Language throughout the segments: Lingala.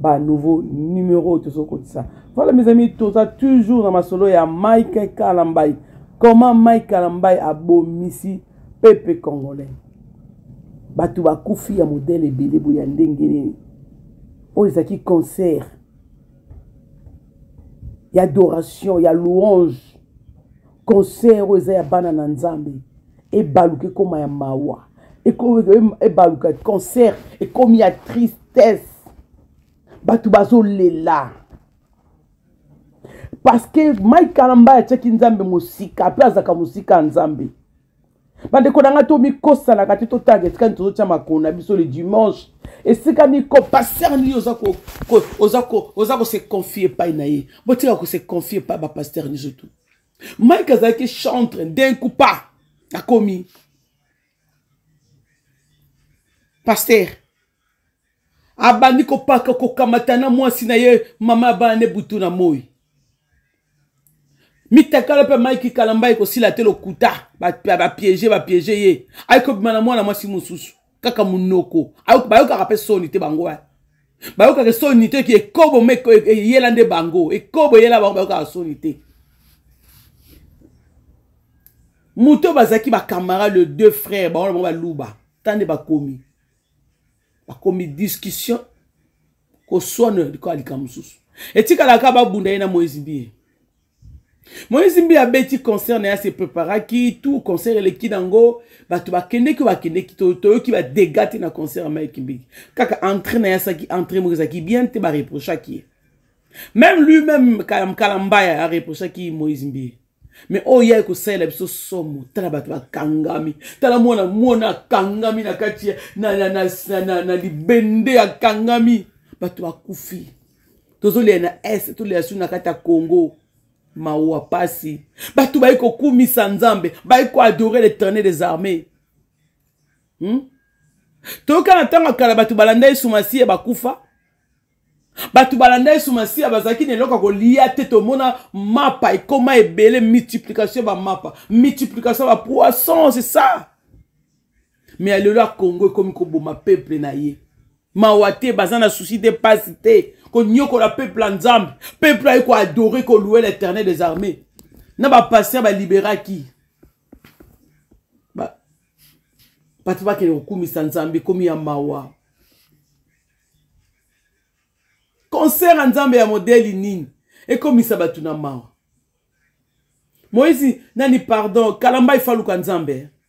ba nouveau numero oyo tozokotisa voilà mes amis toza toujours na masolo ya mike kalambai comment mike kalambai abomisi pepe congolais bato bakufi ya modele ebele boye ya ndenge nini oyo ezalaki concert ya adoration ya louange concert oyo eza ya bana na nzambe ebaluka ekoma ya mawa ebaluka concert ekomi ya tristesse bato bazolela parceke mike kalamba atyaki nzambe mosika mpe azalaka mosika ya nzambe bandeko na ngai tomikosanaka te totanga esika nini tozotya makolo na biso le dimanche esika nini compaster nini oza kose confie epai na ye botika kose confie epai bapaster nyonso tu mike azalaki chantre d'un coup pa akomi paster abandi kopaka kokamata na mwasi na ye mama ya bana ne butu na moi mitakala mpe mike kalamba ekosila te lokuta bapiege bapiege ye ayekobima na mwana mwasi mosusu kaka munoko bayokaka mpe soni te bango eh. bayokaka soni te ki ekobo me eyela nde bango ekobo eyela bango bayokaka soni te moto oyo bazalaki bacamarade le deux frères bango na bango baluba ta nde bakomi bakomi discussion koswana likola likambo mosusu etikalaka babunda ye na moise biye moïse mbi abeti concert na ye ase préparaki tout concert eleki nango bato bakendeki bakendeki toyoki badega te na concert ya mike mbiki kaka entré na ye asaki entré moko ezalaki bien te bareprochaki ye même lui même kalambaya areprochaki moïse mbi mais oyo ye akosalela biso somo tala bato bakangami tala mwana mwana akangami na kati na, na, na, na, na, na libende akangami bato bakufi tozolia na est tolia su na kati ya congo mawa pasi bato bayi kokumisa nzambe bayi koadore l'éternel des armées hmm? toyoka na ntango ya kala bato balanda yesu masiya bakufa bato balanda yesu masiya bazalaki na eloko ya kolia te tomona mapa ekoma ebele multiplication ya bamapa multiplication ya bapoisson c'est ça me ya lelo ya congo ekomi koboma peuple na ye mawa te baza na susi te mpasi te konyokola peuple ya nzambe peuple aye koadore koloue l'éternel des armées na bapaster baliberaki bato bakende kokumisa nzambe ekomi ya mawa concert ya nzambe ya modeli nini ekomisa bato na mawa moïse nani pardon kalamba ifaluka nzambe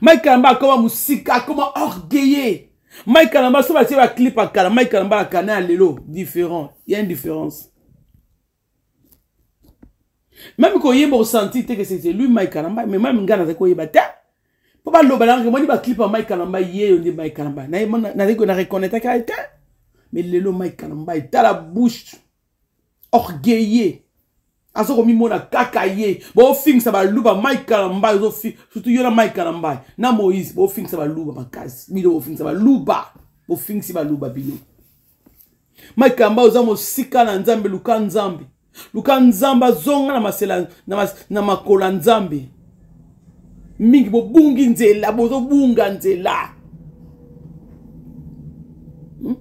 mike kalamba akoma mosika akoma orgueilleux mike kalamba so batie baclip ya kala mike kalamba ya kana ya lelo différent ya indifférence meme koyemba osanti te ke c'était lui mike kalamba mais meme ngai nazali koyeba te mpo baloba nanga kemoni baclip ya mike kalamba yeyo nde mike kalamba nazali na reconnaitre kaka te mais lelo mike kalamba etala bouche orgueilleux aza komimona kaka ye bofingisa baluba mike kalambai surtout yo na mike kalambai na moïse bofingisa baluba makasi bino bofingisa baluba bofingisi baluba bino mike kalambai oza mosika na nzambe luka nzambe luka nzambe azonga na masela na, mas, na makolo ya nzambe mingi bobungi nzela bozobunga nzela hmm?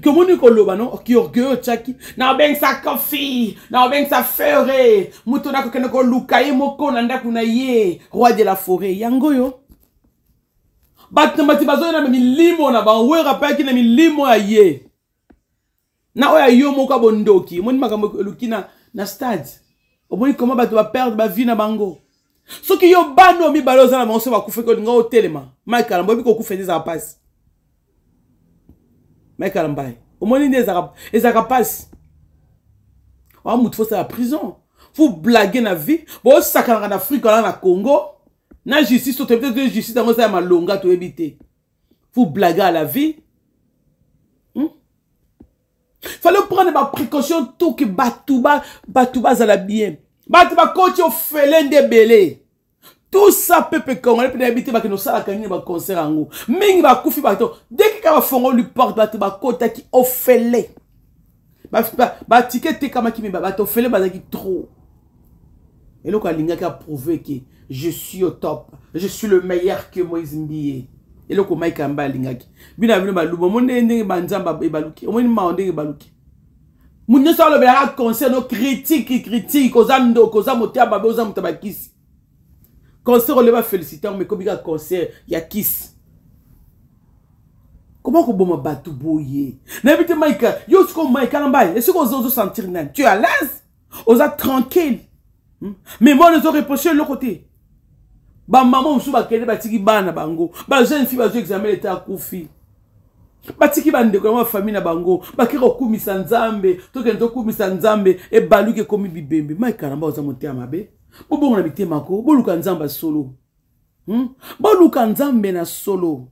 komoni koloba no kiorgueil otyaki na obengisa kofi na obengisa fere moto na kokende koluka ye moko na ndako na ye roi de la foret yango oyo bato na bato bazoya na milimo na bango oyo apayaki na milimo ya ye na oyo ya yo moko ya bondoki omoni makambo eluki na, na stade omoni koma bato baperde bavie na bango soki yo bana oyo mibale oza na bango so bakufaki olinga otelema mike alamba oyebi kokufa nde ezalaka mpasi mike alambai omoni nde ezalaka mpasi oa motu fosala prison fo blage na vie bosakanaka na afrika wana na congo na justice toyebi te justice yango eza ya malonga toyebi te vous blaguez à la vie hmm? fallait prendre ba précaution tout que bato bato bazala bien bato bakoti ofele nde ebele tout ça pepe congolais mpe nayebi te bakende osalaka nini baconcert yango mingi bakufi bato deki kaka bafongoli porte bato bakotaki ofele batike etekamaki me bato ofele bazalaki trop eloko alingaki aprouve ke je suis au top je suis le meilleur que moïse mbiye eloko mike yamba alingaki bino ya bino baluba omoni ndenge ndenge banzamba ebaluki omoni mawa ndenge ebaluki moto nyonso alobelaka conseil no critique critique oza ndoko oza moto ya babe oza moto ya bakisi concert olie bafélicite yango mekomi kaka concert ya kisi koma koboma bato boye nayebi te mike yo sikoyo mike ala mbai esiko ozosentir nani tu à l'aise oza tranquille hmm? mais mwana ezo reproche eloko te bamama mosusu bakende batiki bana bango bajeune fille bazwi examen leta akufi batiki bandeko yango bafamille na bango bake kokumisa nzambe tokende tokumisa nzambe ebaluki ekomi bibembe mike alamba oza motema mabe bobongo na mitema ko boluka nzambe ya solo hmm? boluka nzambe na solo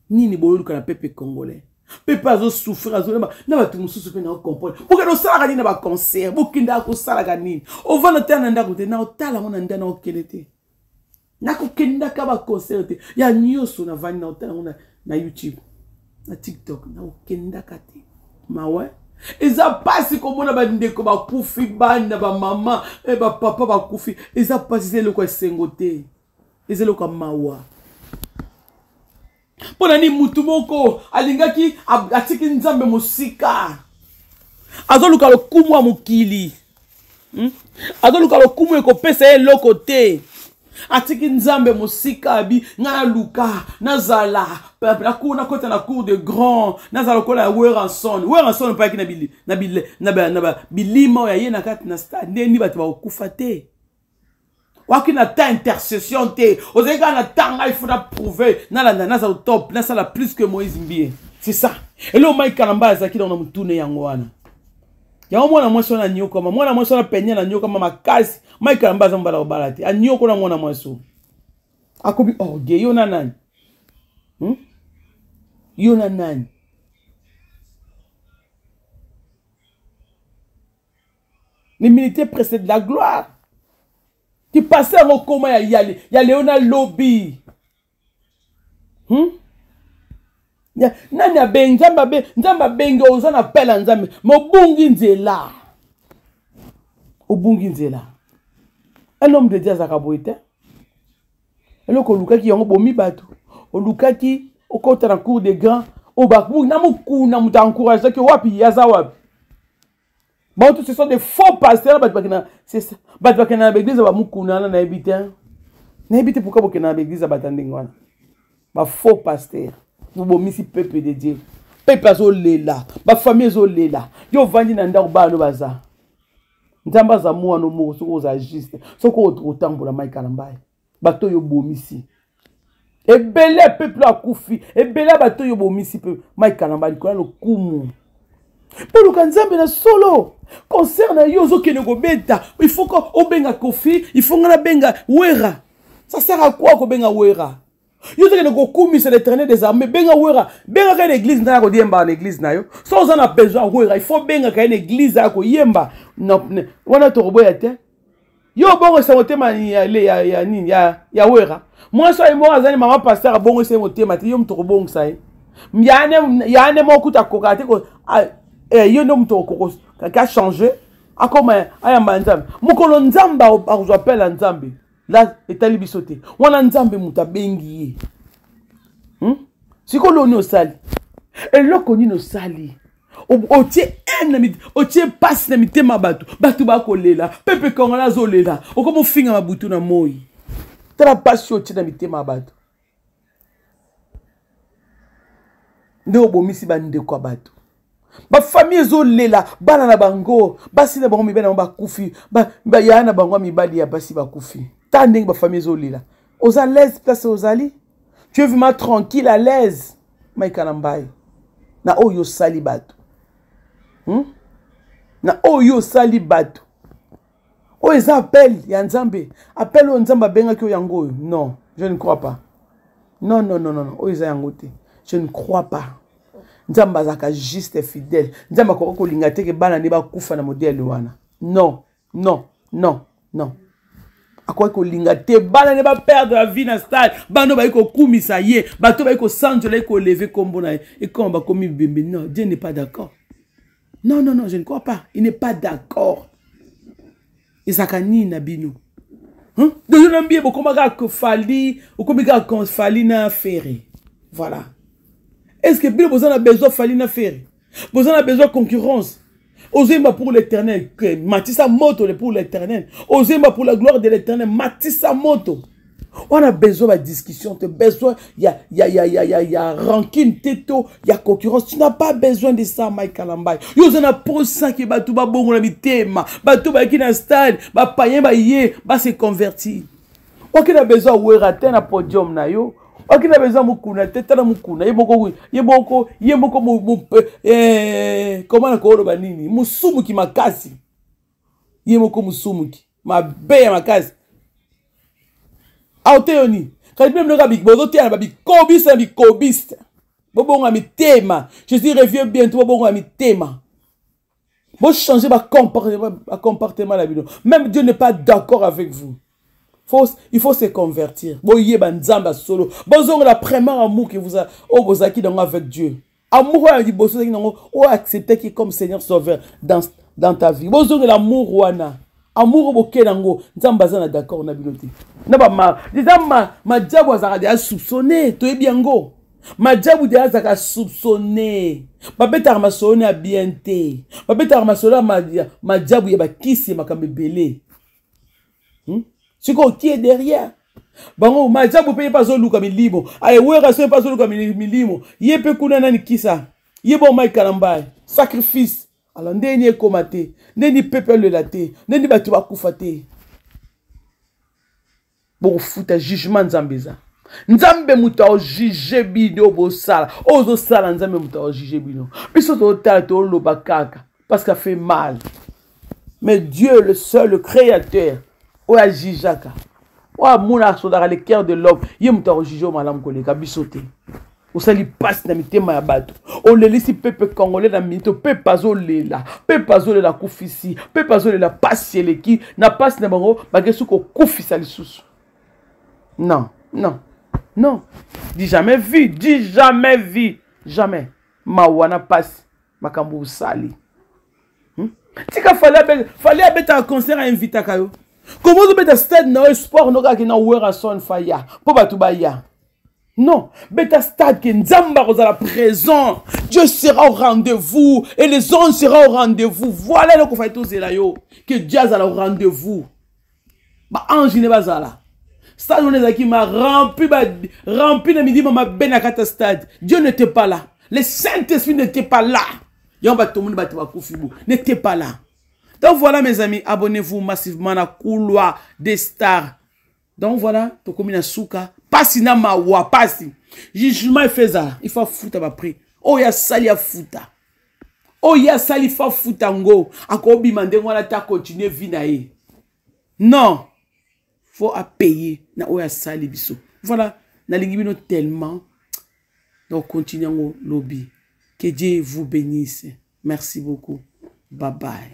nini boluka na pepe congolais pepe azosouffrir azoyeba na bato mosusu mpe naocomprendre bokende osalaka nini na baconcert bokendaka kosalaka nini ovanda tala na ndako te naotala yango na nda naokende te nakokendaka baconcert te ya nyonso navandi na ota yango na, na youtube na tiktok nakokendaka te mawe eza mpasi komona bandeko bakufi bana bamama eh, bapapa bakufi eza mpasi eza eloko ya esengo te eza eloko ya mawa mpo na nini mutu moko alingaki atiki nzambe mosika azoluka lokumu ya mokili hmm? azoluka lokumu ekopesa ye eloko te atiki nzambe mosika abi ngai naluka nazala nakota na cour de grand nazala lokola ya weranson weranson mpayaki na bilima oyo aye na kati na stade nde ni bato bakokufa te waki na ta intercession te ozali kaka na ta ngai faut naprouve nalanda nazala top nasala plus que moïse mbie c'est ça eloko mai kalamba azalaki nango na motune yango wana yango mwana mwasi wana anyokama mwana mwasi wana penia nanyokama makasi mai kalamba aza mobala kobala te anyoko na mwana mwasi oyo akomi orge oh, yo na nani hmm? yo na nani l'humilité précède la gloire ti pase yango okoma ya, ya, ya leo na lobi hmm? ya, nani abengi nzambe abe nzambe abengi oza na pele ya nzambe mobungi nzela obungi nzela un homme de dieu azalaka boye te eloko olukaki yango bomi bato olukaki okota na cour de grand obaku na mokuna moto encourageaki wapi aza wapi bango tout ce sont des faux pasteur bato bakenda bato bakenda na baeglise ya bamokuna wana nayebi te nayebi te pourkui bokenda na baeglise ya bato ya ndenge wana bafaux pasteur bobomisi peuple de dieu peuple azolela bafamille ezolela yo ovandi na ndako bana no baza nzambe aza mwana moko soki oza juste soki otambola mai kalambaye bato oyo obomisi ebele ya peuple akufi ebele ya bato oyo obomisi mpe mai kalamba likolo ya lokumu mpo luka nzambe na solo concert na yo ozokende kobeta ifaut obenga kofi ifaut ngai nabenga wera ça sert à quoi kobenga wera yo tokende kokumisa l'éternel des armées benga wera bengaka ye na église ntango koyemba na église na yo so oza na besoin wera il faut bengaka ye na église aya koyemba wana tokoboya te yo obongisa motema ya nini ya wera mwasi oyo moko azali mama pasteur abongisa ye motema te yo moto okobongisa ye yane moko kuta akoka te ah, eh, yo nde moto okoko kaka change akoma ayamba nzambe mokolo nzambe akozwa pele ya nzambe la etali biso te wana nzambe moto abengi ye hmm? sikoyo loni osali eloko nini osali otie haine otie mpasi na mitema ya bato bato bakolela pepe kongola azolela okomi ofinga mabutu na moi tala mpasi otie na mitema ya bato nde obomisi bandeko ya bato bafamille ezolela bana na bango basi na bango mibali na bango bakufi yaya na bango ya mibali ya basi bakufi ta ndenge bafamille ezolela oza laise place ozali tu es vraiment tranquille à l'aise maika na mbai na oyo osali bato hmm? na oyo osali bato oyo eza appel ya nzambe appel oyo nzambe abengaki oyo yango oyo non je ne crois pas non non non non oyo eza yango te je ne crois pas nzambe azalaka juste fidèle nzambe akoki kolinga te ke bana nde bakufa na modele wana non non non non akoki kolinga te bana nde baperdre la vie na stade bana bayi kokumisa ye bato bayi kosanzola ye koleve nkombo na ye ekoma bakomi bembe non dieu n'est pas d'accord Non, non, non, je ne crois pas. Il n'est pas d'accord. ezalaka nini na bino hein? deja na mbiye bokoma kaka fali okomi kaka fali na fere voilà est ce que bino boza na besoin fali na fere boza na besoin concurrence ozoyemba pour l'éternel matisa moto le pour l'éternel ozoyemba pour la gloire de l'éternel matisa moto On a besoin de discussion, tu as besoin, il y a, y, a, y, a, y, a, y, a, y a rancune, teto, il y a concurrence. Tu n'as pas besoin de ça, Mike Kalambay. Yo, zana pour ça qui batou ba bongo na mitema, batou ba qui na stade, ba payen ba yé, ba se converti. Ok, na besoin de werate na podium na yo. Ok, na besoin mukuna, teta na mukuna, ye moko, ye moko, ye moko, mu, mu, eh, comment na koolo ba nini, musumu ki makasi. Ye moko musumu ki. mabe ya makasi aoteyo nini kadi bino binoka bozoteya na babikobiste na bikobiste bobonga mitema je suis revieux bientôt bobonga mitema bochange bacomportement na bino même dieu n'est pas d'accord avec vous Faut, il faut se convertir boyeba nzambe ya solo bozongela premier amour que vous oyo bozalaki nango avec dieu amour wana liboso ozalaki nango o acceptaki comme seigneur sauveur dans, dans ta vie bozongela amour wana amour oyo boke nango nzambe aza na d'accord na bino te na bama eza madiabu azalaka deya soupçonne toyebi yango madiabu deya azalaka soupçonne babetaka masolo na ya bien te babetaka masolo ya madiabu ya bakisi ya makambo ebele hmm? sikoyo kie derrière bango majabu mpe ye mpe azoluka milimo aye wera so ye mpe azoluka milimo ye mpe kuna nani kisa ye bo mike kalambaye sacrifice ala nde ni ekoma te nde ni pepe alela te nde ni bato bakufa te bokofuta jugement nzambe eza nzambe moto aojuge bino bosala oyo ozosala nzambe moto aojuge bino biso totala toloba kaka parce qu'a fait mal mais dieu le seul le créateur oyo ajijaka oyo amona asodaka le cœur de l'homme ye moto akojuge oyo malamu koleka biso te osali mpasi na mitema ya bato olelisi pepe congolais na minito pepe azolela pepe azolela akufisi pepe azolela mpasi eleki na mpasi na bango bakesi kokufisa lisusu non non non di jamais vu di jamais vu jamais mawa na mpasi makambo osali hmm? tika fali abetaka concert ainvitaka yo koma ozobeta stade na yo sport no kaka kina werrason faya mpo bato baya non beta stade ke nzambe akozala présent dieu sera au rendez-vous et les anges sera au rendez-vous voilà eloko fai tozela yo ke dieu azala au rendez-vous ba ange ne bazala stade wana ezalaki ma rempli ba rempli na midima mabe na kati ya stade dieu n'était pas là le saint esprit n'était pas là yango bato tomoni bato bakufi bo n'était pas là donc voilà mes amis abonnez-vous massivement na couloir des stars donc voilà tokomi na suka pasi na mawa pasi jugement efe ezala il faut afuta baprix oyo asali afuta oyo asali fa futa ngo akobima ndenge wana ta continue vie na ye non faut apaye na oyo asali biso voilà nalingi bino tellement donc continue yango lobi que dieu vous bénisse merci beaucoup bye bye